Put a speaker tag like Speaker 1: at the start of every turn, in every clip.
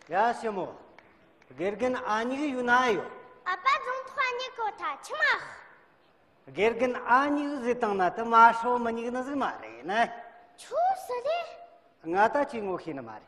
Speaker 1: ཡ་སེ་མོ་དགེ་རྒན་ཨ་ཉི་གི་ཡུ་ན་ཡོ་ཨ་པ་རྫོང་
Speaker 2: ཐོག་ཨ་ཉི་གོ་ཐ་ཆི་མ་དགེ་
Speaker 1: རྒན་ཨ་ཉི་གི་ཟི་དང་ན་ཏི་མ་ཧྲོ་མ་ཉི་གི་ན་ཟི་མ་རེ་ན་ཆུ་སི་རེ་
Speaker 2: ང་
Speaker 1: ད་ཅི་ངོ་ཤེ་ན་མ་རེ་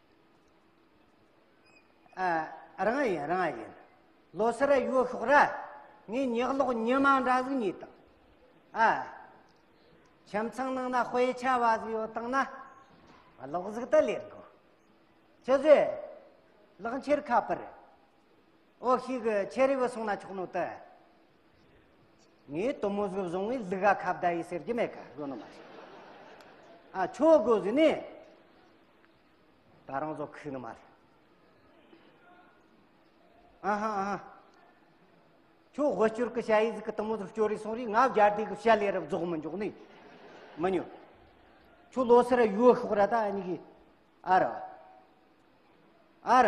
Speaker 1: རང་ཡིན་རང་ཡིན་ལོ་སར་ཡོད་ཤོག་ར་ངས་ཉག་ལོག་ཉི་མ་འདྲ་ཟིག་ཉིད་དང་ཨ་ཁྱིམ་ཚང་ནང་ན་དཔེ་ཆ་བ་ཟིག་ཡོད་དང་ན་ལོག་ཟིག་ད་ལེར་གོ་ཅི་ཟེ་ལག་འཁྱེར་ཁ་པར་ཨོ་ཤི་གི་ཆེ་རི་བུ་སོང་ན་ཆོག་ནོ་ད་ངས་དོ་མོ་ཟིག་བཟུང་བའི་ལུག་ག་ཁ་བརྡ་ཡི་ཟེར་གྱི་མེད་ག་གོ་ནོ་མ་ཨ་ཆོ་གོ་ཟིག་ནས་ད་རང་ཚོ་ཁུག་ནི་མ་རེད་ཨ་ཧ་ཨ་ཧ་ཁྱོ་དབུ་སྐྱོར་གི་བྱ་ཡིག་གི་དང་མོ་དུ་སྐྱོར་རེ་སོང་རེ་ང་བརྒྱ་དེ་གི་བྱ་ལས་རབ་རྫོགས་མི་འཇོག་ནི་མི་ཉོ་ཁྱོ་ལོ་སར་ཡོ་ཤོག་ར་ད་ཨ་ཉི་གི་ཨ་ར་ཨ་ར་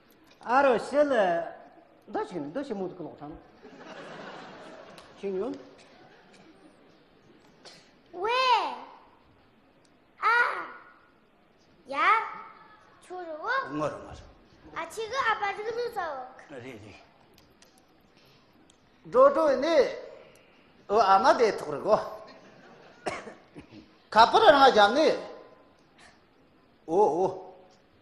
Speaker 1: ཨ་རོ་ཤི་ལི། འདི་ཞིག་ནི་འདི་ཞིག་མུ་ཏིག་གི་ལོག་ཆང། ཤིང་ཡོན།
Speaker 2: ཝེ། ཨ། ཡ། ཆུ་རུ་བོ། ངོ་རུ་ངོ་རུ།
Speaker 1: ཨ་ཆི་
Speaker 2: གི་ཨ་པ་རིག་རུ་ཚའོ། རེད་
Speaker 1: རེད། འགྲོ་འགྲོ་ནི། ཨོ་ཨ་མ་དེ་ཐོག་རི་གོ། ཁ་པར་རང་བཞག་ནི། ཨོ་ཨོ།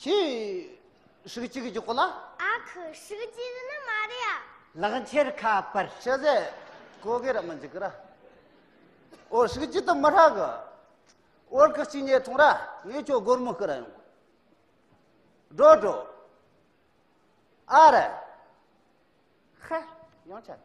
Speaker 1: ཁྱི། ཧྲིག་གཅིག་གི་གོ་ལ། ཨ་ཁུ་ཧྲིག་
Speaker 2: གཅིག་ནི་མ་རེད་ཡ། ལག་འཁྱེར་ཁ་
Speaker 3: པར། ཤ་ཟས་
Speaker 1: ཀོ་དགེ་ར་མི་འཇིག་གི་ར། ཨོ་ཧྲིག་གཅིག་དུ་མི་ཧྲག་གི། ཨོ་རྐུ་གཅིག་ཉལ་ཐུང་ར་ངས་ཁྱོད་སྒོར་མོ་བསྐུར་ར་ཡོང། འགྲོ་འགྲོ། ཨ་ར། ཧ། ཡང་ཆད།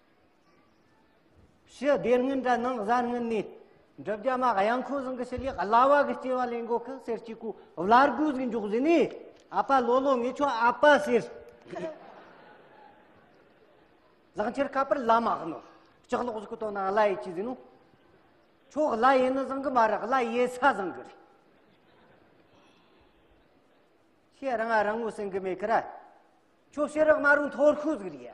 Speaker 3: ཞི་བདེ་སྔོན་དྲ་ནང་གཟའ་སྔོན་ནས་འགྲུབ་རྒྱ་མ་གཡང་ཁོ་ཟང་གི་ཞི་ལེགས་གླ་བ་གི་སྐྱེ་བ་ལེན་གོ་ཁི་སེར་གྱི་གོ་བླ་རྒུ་ཟིག་འཇོག་ཟིན་ནི་ཨ་པ་ལོ་ལོ་ངེ་ཆོ་ཨ་པ་ཟེར་ལག་འཁྱེར་ཁ་པར་བླ་མ་གནོ་ལྕགས་ལོག་ཟིག་གི་དོ་ན་གླ་ཡེ་ཅི་ཟིན་ནོ་ཆོ་གླ་ཡེ་ནི་ཟང་གི་མ་ར་གླ་ཡེ་ས་ཟང་གི་རེ་ཤེ་རང་ཨ་རང་ངོ་སེང་གི་མེ་ཁི་ར་ཆོ་ཤེ་རག་མ་རུང་ཐོར་ཁུ་ཟིག་རེ་ཡ